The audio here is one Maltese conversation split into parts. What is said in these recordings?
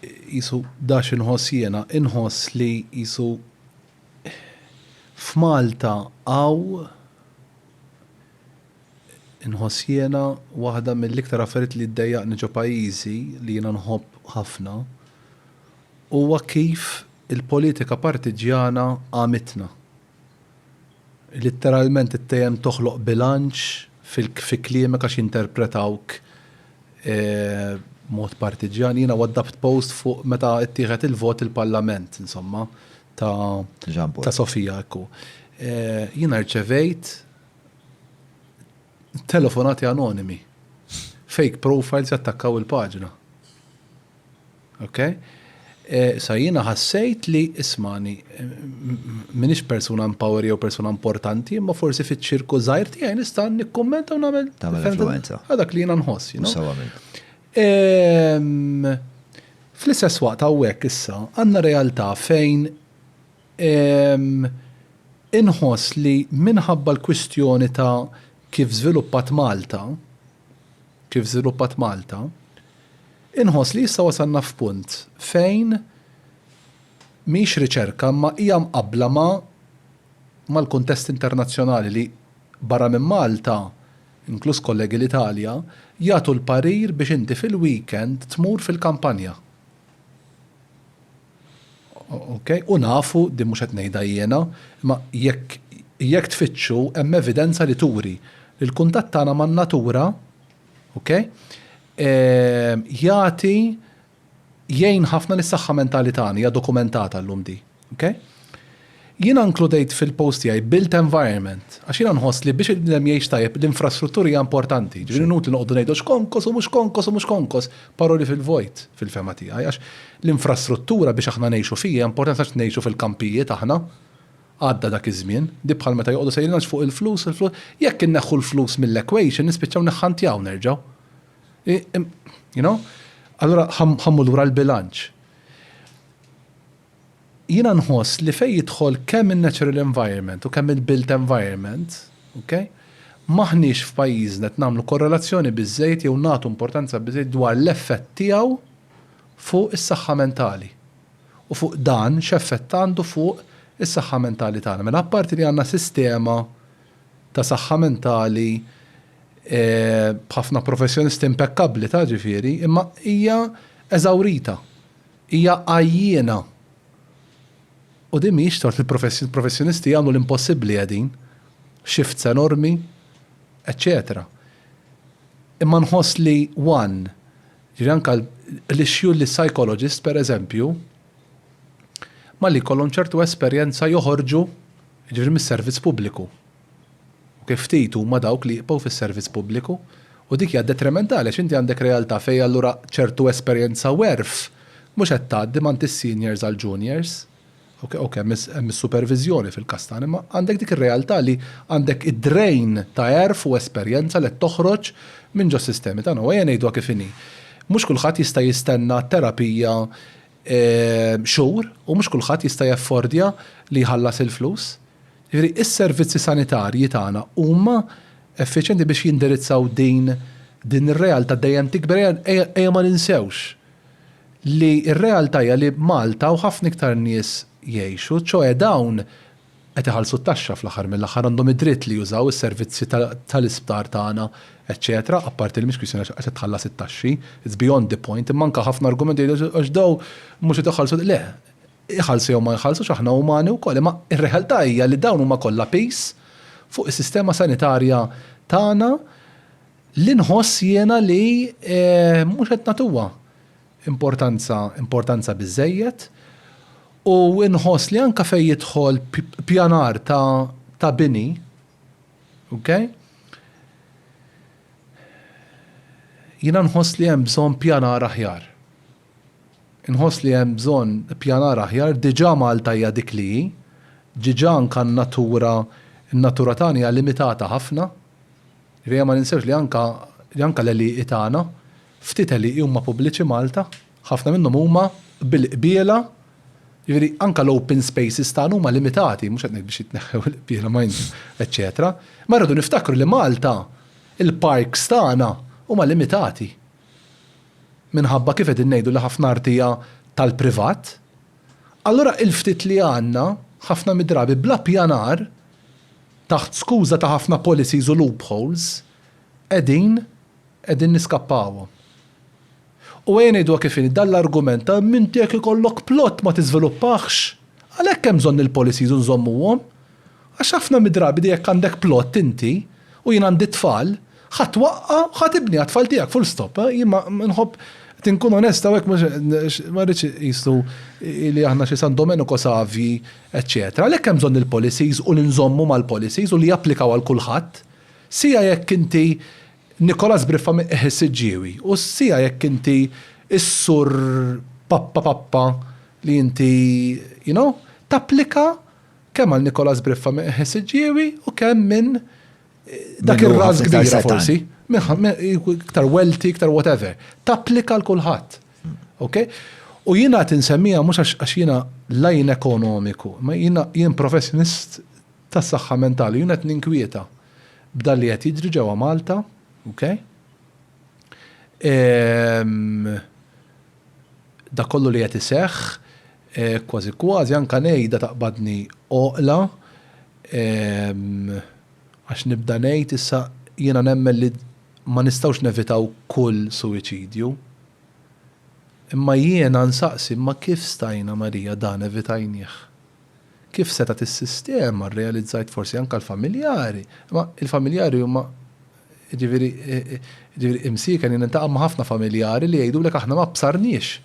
Qisu da x'inħoss jiena, inħoss li qisu f'Malta hawn inħoss jiena waħda mill-iktar affarijiet li ddejjaqni ġo pajjiżi li jiena nħobb ħafna huwa kif il-politika partiġġjana għamitna. Litteralment it-tejjem toħloq bilanċ fi kliemek għax jinterpretawk b'mod partiġġjan. Jiena waddabbt post fuq meta ttieħed il-vot il-Parlament insomma ta' ta' Sofia hekk hu. Jiena rċevejt Telefonati anonimi. Fake profiles jattakkaw il-paġna. Ok? Sa jiena ħassejt li ismani minix persuna empower jew persuna importanti, imma forsi fiċ-ċirku żgħir tiegħi nista' nikkummenta u nagħmel tagħmel influenza. Dak li jiena nħoss, you know. Fl-istess waqt hawnhekk issa għandna realtà fejn Inħoss li minħabba l-kwistjoni ta' kif żviluppat Malta, kif żviluppat Malta, inħoss li issa wasalna f'punt fejn mhix riċerka imma hija mqabbla ma' mal-kuntest internazzjonali li barra minn Malta, inkluż kollegi l-Italja, jagħtu l-parir biex inti fil-weekend tmur fil-kampanja. Okej, u nafu, din mhux qed ngħidha jiena, imma jekk jekk tfittxu hemm evidenza li turi li l-kuntatt tagħna man-natura, okej, jagħti jgħin ħafna lis-saħħa mentali tagħna, hija dokumentata llum din, okej. Jiena nkludejt fil-post tiegħi built environment għax jiena nħoss li biex il-bniedem jgħix tajjeb l-infrastruttura hija importanti. Jiġifieri inutli noqogħdu ngħidu x'konkos u mhux konkos u mhux konkos, paroli fil-vojt fil-fehma tiegħi għax l-infrastruttura biex aħna ngħixu fiha hija importanti għax ngħixu fil-kampijiet aħna. Għadda dak iż-żmien. Di bħal meta joqogħdu sejrin għax fuq il-flus, il-flus. Jekk inneħħu l-flus mill-equation nispiċċaw niħħantjaw nerġgħu. You know? Allura ħa mmur lura l-bilanċ. Jiena nħoss li fejn jidħol kemm in-natural environment u kemm il-built environment, ok, m'aħniex f'pajjiżna qed nagħmlu korrelazzjoni biżżejjed jew nagħtu importanza biżżejjed dwar l-effett tiegħu fuq is-saħħa mentali u fuq dan x'effett għandu fuq is-saħħa mentali tagħna. Mela apparti li għandna sistema ta' saħħa mentali b'ħafna professjonisti impekkabbli ta' ġifieri imma hija eżawrita. Hija għajjiena. U din mhijiex tort il-professjonisti jagħmlu l-impossibbli qegħdin, shifts enormi, eċċetera. Imma nħoss li one, ġifieri anke l-issue li psychologist pereżempju, malli jkollhom ċertu esperjenza joħorġu, jiġifieri mis-servizz pubbliku. U kif ftit huma dawk li jibqgħu fis-servizz pubbliku. U dik hija detrimentali għax inti għandek realtà fejn allura ċertu esperjenza u għerf mhux qed tgħaddi m'għand is-seniors għall-juniors. Okej, okej, hemm is-superviżjoni fil-każ tagħna imma għandek dik ir-realtà li għandek id-drain ta' għerf u esperjenza li qed toħroġ minn ġos-sistemi tagħna. U ejja ngħiduha kif inhi. Mhux kulħadd jista' jistenna terapija xhur u mhux kulħadd jista' jaffordja li jħallas il-flus. Jiġifieri s-servizzi sanitarji tagħna huma effiċjenti biex jindirizzaw din din ir-realtà dejjem tikber. Ejja ejja ejja ma ninsewx li r-realtà hija li Malta u ħafna iktar nies jgħixu, ċoe dawn qed iħallsu t-taxxa fl-aħħar mill-aħħar għandhom id-dritt li jużaw is-servizzi ta' tal-isptar tagħna eċċetera, apparti li mhix kwistjoni għax qed tħallas it-taxxi, it's beyond the point, imma anke ħafna argumenti jgħidu għax dawn mhux qed iħallsu le, Iħallsu jew ma jħallsux aħna umani wkoll, imma r-realtà hija li dawn huma kollha piż fuq is-sistema sanitarja tagħna li nħoss jiena li mhux qed nagħtuha importanza importanza biżżejjed u nħoss li anke fejn jidħol pjanar ta' ta' bini, okay, jiena nħoss li hemm bżonn pjanar aħjar. Inħoss li hemm bżonn ippjanar aħjar, diġà Malta hija dik li hi, diġà anke n-natura, in-natura tagħna hija limitata ħafna. Jiġifieri ejja ma ninsewx li anke, li anke l-għelieqi tagħna, ftit għelieqi huma pubbliċi Malta, ħafna minnhom huma bil-qbiela, jiġifieri anke l-open spaces tagħna huma limitati, mhux qed ngħid biex jitneħħew il-qbiela ma jn, eċċetera. Imma rridu niftakru li Malta, il-parks tagħna huma limitati. minħabba kif qegħdin ngħidu li ħafna art hija tal-privat, allura il-ftit li għandna, ħafna mid-drabi bla ppjanar, taħt skuża ta' ħafna policies u loopholes, qegħdin qegħdin niskappawhom. U ejja ngħiduha kif inhi, dan l-argument ta' m'inti jekk ikollok plot ma tiżviluppahx, għalhekk hemm bżonn il-policies u nżommuhom, Għax ħafna mid-drabi di jekk għandek plott inti, u jien għandi t-tfal, ħa twaqqa' u ħa tibni għat-tfal tiegħek, full stop. Jien ma nħobb, qed inkun onest hawnhekk mhux għax ma rridx iqisu li aħna xi San Domenico Savji eċċetera. Għalhekk hemm bżonn il-policies u li nżommu mal-policies u li japplikaw għal kulħadd. Siegħa jekk inti Nikola Sbriffa minn Qiegħ is-Siġġiewi u siegħa jekk inti s-Sur Pappa Pappa li inti, you know, tapplika Kemm għal Nicolas Briffa minn Qeħ is-Siġġiewi u kemm minn dak ir-ras kbira forsi, iktar welti, iktar whatever. Tapplika għal kulħadd. Okay? U jiena qed insemmija mhux għax jiena lajn ekonomiku, ma jiena jien professjonist tas-saħħa mentali, jiena qed ninkwieta b'dan li qed jiġri ġewwa Malta, okay? dak kollu li qed iseħħ, kważi kważi anke ngħidha taqbadni għoqla għax nibda ngħid issa jiena nemmen li ma nistgħux nevitaw kull suwiċidju. Imma jiena nsaqsi imma kif stajna Marija dan evitajnieh? Kif setgħet is-sistema, rrealizzajt forsi anke l-familjari, imma l-familjari huma Jiġifieri, jiġifieri imsieken jien niltaqa' ma' ħafna familjari li jgħidulek aħna ma bsarniex.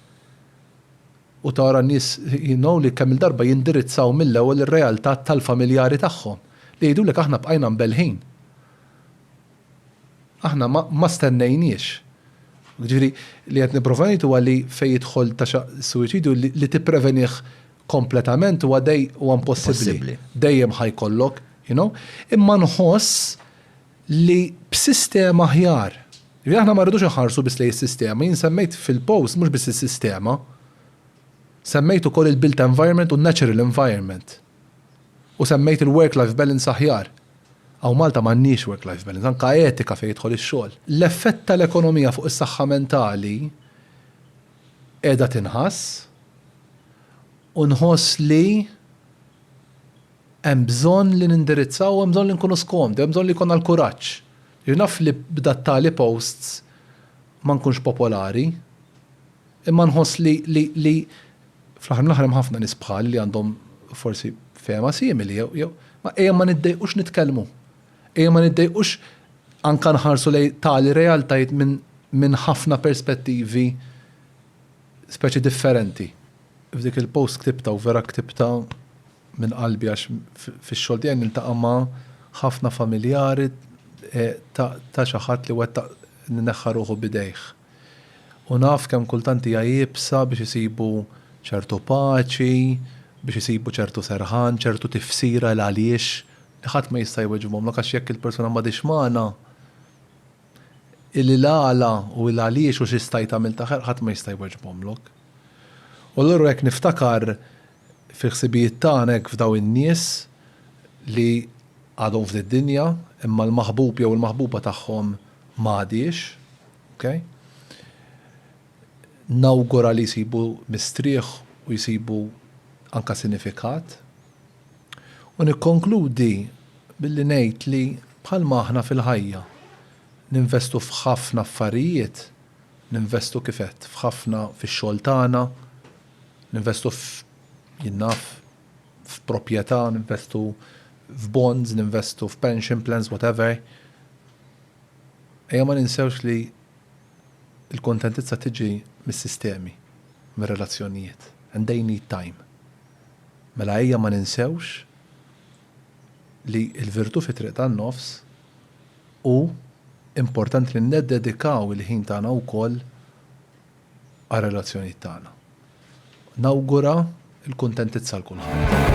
U tara n-nies, you know, li kemm-il darba jindirizzaw mill-ewwel ir-realtà tal-familjari tagħhom, li jgħidulek aħna bqajna mbelħin. Aħna ma, ma stennejniex. Jiġifieri, li qed nipprova ngħid huwa li fejn jidħol ta' xaqq is-suwiċidju li, li tipprevenih kompletament huwa dej, huwa impossibbli. Possibbli. Dejjem ħa jkollok, you know. Imma nħoss, li b'sistema aħjar, ġifieri aħna ma rridux inħarsu biss lejn is-sistema, jien semmejt fil-post mhux biss is-sistema, semmejt ukoll il-built environment u n-natural environment u semmejt il-work life balance aħjar. Hawn Malta m'għandniex work life balance, anke etika fejn jidħol ix-xogħol. L-effett tal-ekonomija fuq is-saħħa mentali qiegħda tinħass u nħoss li, Hemm bżonn li nindirizzaw u hemm bżonn li nkunu skomdi, hemm bżonn li jkollna l-kuraġġ. Jiġifieri naf li b'dat-tali posts ma nkunx popolari, imma nħoss li li li fl-aħħar mill-aħħar hemm ħafna nies bħali li għandhom forsi fehma simili jew jew ma ejja ma niddejqux nitkellmu. Ejja ma niddejqux anke nħarsu lejn tali realtajiet minn minn ħafna perspettivi speċi differenti. F'dik il-post ktibtha u vera ktibtha minn qalbi għax fix-xogħol tiegħi niltaqa' ma' ħafna familjari ta' xi ħadd li wettaq li neħħa ruħu b'idejh. U naf kemm kultant hija iebsa biex isibu ċertu paċi, biex isibu ċertu serħan, ċertu tifsira l-għaliex li ħadd ma jista' jweġibhomlok għax jekk il-persuna m'għadhiex magħna, il-għala u l-għaliex u xi stajt għamilt aħjar ħadd ma jista' jweġbhomlok. U allura jekk niftakar Fil-ħsibijiet tagħna hekk fdaw in-nies li għadhom f'did-dinja imma l-maħbub jew il-maħbuba tagħhom ma għadhiex. Okay? Nawgura li jsibu mistrieħ u jsibu anka sinifikat. U nikkonkludi billi ngħid li bħalma aħna fil-ħajja ninvestu f'ħafna affarijiet, ninvestu kif għedt f'ħafna fix-xogħol tagħna, Ninvestu f', jien naf, f'proprjetà, ninvestu f'bonds, ninvestu f'pension plans, whatever. Ejja ma ninsewx li l-kuntentizza tiġi mis-sistemi, mir-relazzjonijiet, and they need time. Mela ejja ma ninsewx li l-virtù fit-triq tan-nofs hu importanti li niddedikaw il-ħin tagħna wkoll għar-relazzjonijiet tagħna. Nawgura l-kuntentizza għal kulħadd.